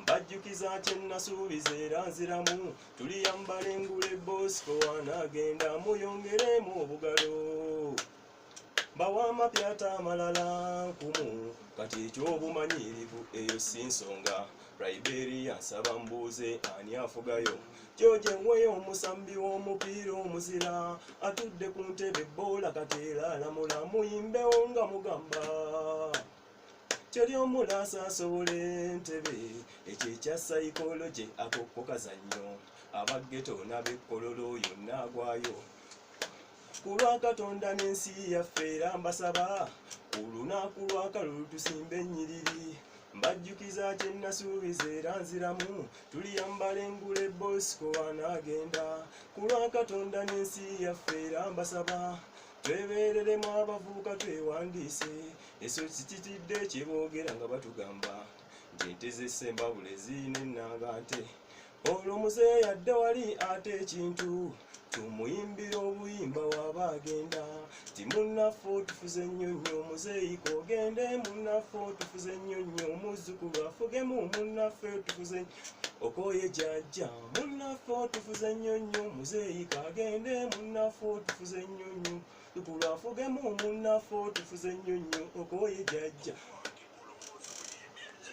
mbajjukiza kye nnasuubiza era nziramu tuliyambala engule bosco anaagenda muyongeremu obugalo bawa amapyata amalala nkumu kati eky'obumanyirivu eyo si nsonga liberia nsaba mbuuze ani afugayo george nweyo omusambi w'omupiira omuzira atudde ku ntebe boola kateera alamula muyimbewo nga mugamba teri omula asasobola entebe ekyo ekya sayikologye akokukazannyo abaggeto n'abekkololo yonna agwayo ku lwa katonda n'ensi yaffe era mbasaba ku lunaku lwakalulu tusimba ennyiriri mbajjukiza kye nasuubiza era nziramu tuliyambala engule bosco anaagenda ku lwa katonda n'ensi yaffe era mbasaba twebereremu abavubuka twewandiise eso sikitidde kyeboogera nga batugamba nti ente zesembabule zirina ennanga nte olwo muzeeyi adde wali ate ekintu tumuyimbira obuyimba waba agenda ti munnaffe otufuze nnyo nnyo muzeeyi kogende munnaffe otufuze nnyo nnyo omuzzukulu afugemu munnaffe otufuze okoye jajja munaffe otufuze nnyo nnyo muzeeyi kagende munaffe otufuze nnyo nnyo tukulu afugemu munaffe otufuze nnyo nnyo okoye jajja